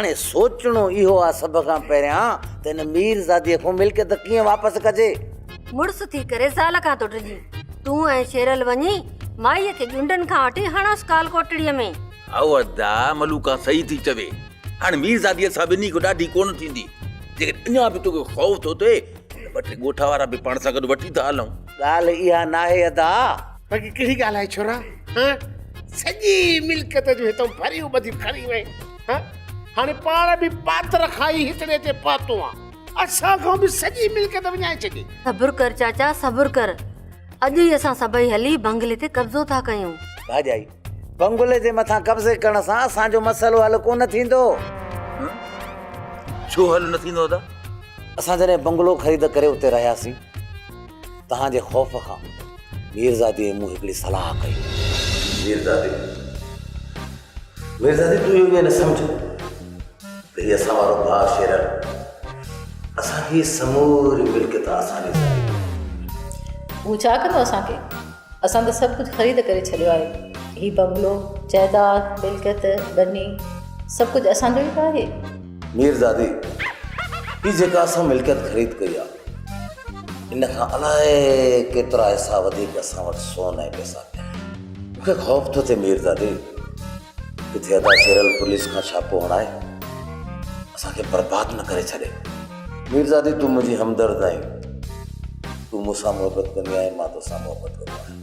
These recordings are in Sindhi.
هاڻي سوچڻو اهو آ سڀ کان پهريان ته هن ميرزاديء کان ملڪيت ڪيئن واپس ڪجي. مڙس ٿي ڪري زال کان ٿو ڊڄين. تون ۽ شيرل وڃي مائيء کي ڄونڊن کان وٺي هڻوس ڪال ڪوٽڙيء ۾. هائو ادا، ملوڪا صحيح ٿي چوي. هاڻي ميرزاديء سان ٻنهي کان ڏاڍي ڪونه ٿيندي. جيڪڏهن اڃا به توکي خوف ٿو اٿئي ته ٻه ٽي ڳوٺ وارا به پاڻ سان گڏ وٺي ٿا هلون. ڳالهه اها ناهي ادا. باقي ڪهڙي ڳالهه آهي ڇورا. سڄي ملڪيت جون هتان ڀريون ٻڌيون کڻي وئين. ها هاڻي پاڻ به پاتر کائي هڪڙي تي پاتو آن اسان کان به سڄي ملڪيت وڃائي ڇڏي. صبر ڪر چاچا صبر ڪر اڄ ئي اسان سڀئي هلي بنگلي تي قبضو ٿا ڪيون. ڀاڄائي بنگلي جي مٿان قبضي ڪرڻ سان اسان جو مسئلو حل ڪونه ٿيندو. ها ڇو حل نه ٿيندو ادا؟ اسان جڏهن بنگلو خريد ڪري اتي رهياسين تهان جي خوف کان. ميرزادي ۽ مون هڪڙي صلاح ڪئي. ميرزادي، ميرزادي تون اهو ائين نه سمجهه ته هي اسان وارو باغ شيرر اسان کي هي سموري ملڪيت آسانيء سان ڏئي. هو ڇا ڪندو اسان کي؟ اسان ته سڀ ڪجهه خريد ڪري ڇڏيو آهي. هي بنگلو، جائيداد، ملڪيت، ٻني، سڀ ڪجهه اسان جو ئي ته آهي. ميرزادي، هي جيڪا اسان ملڪيت خريد ڪئي آهي. ان کان الائي ڪيترا حصا وڌيڪ اسان وٽ سون ۽ پئسا پيا آهن. مون کي خوف ٿو ٿئي ميرزادي، ڪٿي ادا شيرل پوليس کان ڇاپو هڻائي اسان کي برباد نه ڪري ڇڏي. ميرزادي تون منهنجي همدرد آهين، تون مون سان محبت ڪندي آهين، مان توسان محبت ڪندو آهيان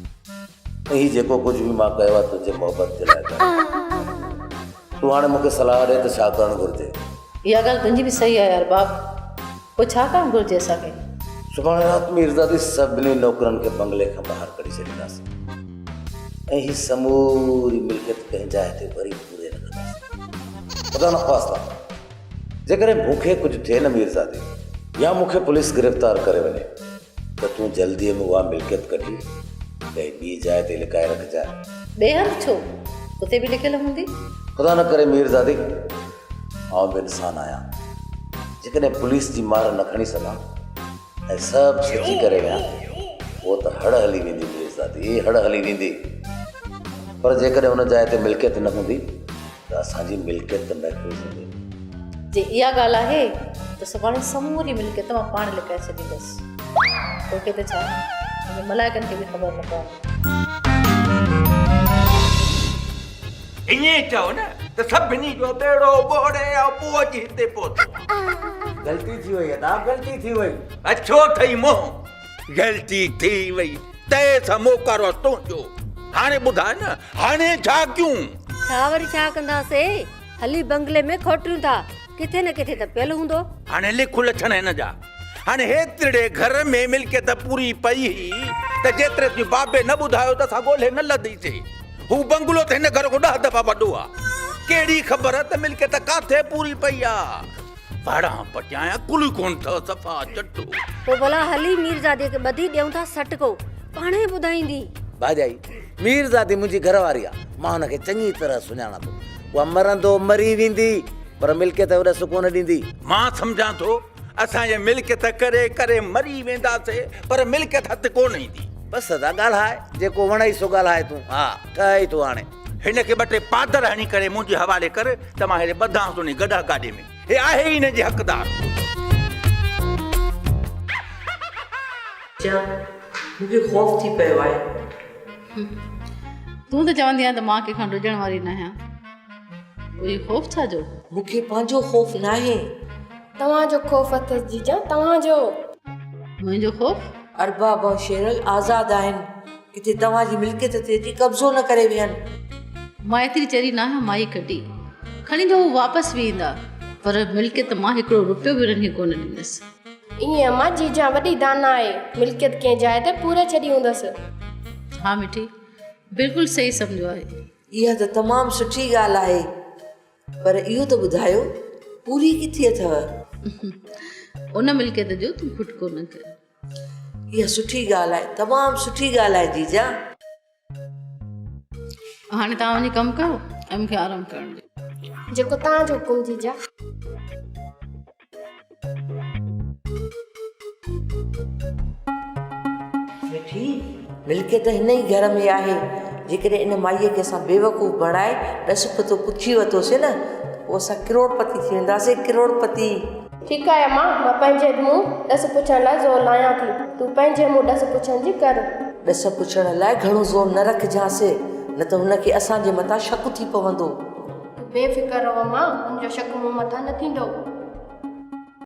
۽ هي جيڪو ڪجهه به مان ڪيو آهي تنهنجي محبت جي لاء ڪيو آهي. تون هاڻي مون کي صلاح ڏي ته ڇا ڪرڻ گهرجي. اها ڳالهه تنهنجي به صحيح آهي ارباب. پوء ڇا ڪرڻ گهرجي اسان کي؟ سڀاڻي رات ميرزادي سڀني نوڪرن کي بنگلي کان ٻاهر ڪڍي ڇڏينداسين ۽ هي سموري ملڪيت ڪنهن جاء تي وري پوري رکنداسين. خدا نخواسته جيڪڏهن مون کي ڪجهه ٿئي نه ميرزادي يا مون کي پوليس گرفتار ڪري وڃي ته تون جلديء ۾ اها ملڪيت ڪڍي ڪنهن ٻي جاء تي لڪائي رکجانء. ٻئي هنڌ ڇو؟ اتي به لڪيل هوندي. خدا نه ڪري ميرزادي! آئون به انسان آهيان جيڪڏهن پوليس جي مار نه کڻي سگهان ۽ سڀ سچي ڪري ويان پوء ته هڙ هلي ويندي مير زادي هڙ هلي ويندي پر جيڪڏهن ان جاء تي ملڪيت نه هوندي ته اسان جي ملڪيت ته محفوظ هوندي جي اها ڳالهه آهي ته سڀاڻي سموري ملڪيت مان پاڻ لڪائي ڇڏيندس توکي ته ڇا ملائڪن کي به خبر نه پوندي ائين چئو نه ته سڀني جو ٻيڙو ٻوڙي آء پوء اچي هتي پهتو آهيان. غلطي ٿي وئي ادا غلطي ٿي وئي. اڇو ٿئي منهن. غلطي ٿي وئي ته سا موقعرو تنهنجو. هاڻي ٻڌاء نه هاڻي ڇا ڪيون؟ ڇا وري ڇا ڪنداسين هلي بنگلي ۾ کوٽيون ٿا. ڪٿي نه ڪٿي ته پيل هوندو. هاڻي لک لڇڻ هن جا. هاڻي هيترڙي گهر ۾ ملڪيت پوري پئي هئي ته جيتري تون بابي نه ٻڌايو ته اسان ڳولهي نه لڌيسي. هو بنگلو ته هن گهر کان ڏهه دفعا وڏو آ. ڪهڙي خبر ته ملڪيت ڪاٿي پوري پئي آ. وهڙان پٽيان عقل ئي ڪونه اٿئو صفا چٽو. پوء ڀلا هلي ميرزادي کي ٻڌي ڏيئون ٿا سٽڪو. پاڻ ئي ٻڌائيندي. ڀاڄائي، ميرزادي منهنجي گهر واري آ. مان هن کي چڱي طرح سڃاڻان ٿو. اها مرندو مري ويندي، پر ملڪيت اوڏ سڪون نه ڏيندي. مان سمجهان ٿو، اسان جي ملڪيت ڪري ڪري مري وينداسي، پر ملڪيت هٿ ڪو نه ايندي. بس سدا ڳالهاء، جيڪو وڻئي سو ڳالهاء تون. ها، ٺهه ئي ٿو هاڻي. هن کي ٻه ٽي پادر هڻي ڪري منهنجي حوالي ڪر ته مان هيڏي ٻڌانس انهي گڏهه گاڏي ۾. هي آهي ئي هن جي حقدار. چيا، مون کي خوف ٿي پيو آهي. تون ته چوندي آهين ته مان ڪنهن کان ڊڄڻ واري ناهيان. پوء هي خوف ڇا جو؟ مون کي پنهنجو خوف ناهي. توهان جو خوف اٿس جيجان توهان جو. منهنجو خوف؟ ارباب ۽ شيرل آزاد آهن. ڪٿي توهان جي ملڪيت تي اچي قبضو نه ڪري ويهن. مان ايتري چري ناهيان مائي کٽي کڻي ته هو واپس به ايندا پر ملڪيت مان هڪڙو روپيو به انهن کي ڪونه ڏيندس. ائين امان جيجان وڏي داناء آهي ملڪيت ڪنهن جاء تي پوري ڇڏي هوندس. ها مٺي بلڪل صحيح سمجهيو آهي. اها ته تمام سٺي ڳالهه آهي پر اهو ته ٻڌايو پوري ڪٿي اٿئو؟ ان ملڪيت جو تون کٽڪو نه ڪر. اها سٺي ڳالهه آهي تمام سٺي ڳالهه آهي جيجا. هاڻي توهان وڃي ڪم ڪيو ۽ مونکي آرام ڪرڻ ڏيو جيڪو توهان جو حڪم جيجا مٺي ملڪيت هن ئي گهر ۾ آهي جيڪڏهن ان مائيء کي اسان بيوقوف بڻائي ڏس پتو پڇي ورتوسين نه پوء اسان ڪروڙپتي ٿي وينداسين ڪروڙپتي ٺيڪ آهي اما، مان پنهنجي منهن ڏس پڇڻ لاء زور لاهيان ٿي، تون پنهنجي منهن ڏس پڇڻ جي ڪر. ڏس پڇڻ لاء گهڻو زور نه رکجانس، نه ته هن کي اسان جي مٿان شڪ ٿي پوندو. تون بي فڪر رهو اما، هن جو شڪ مون مٿان نه ٿيندو.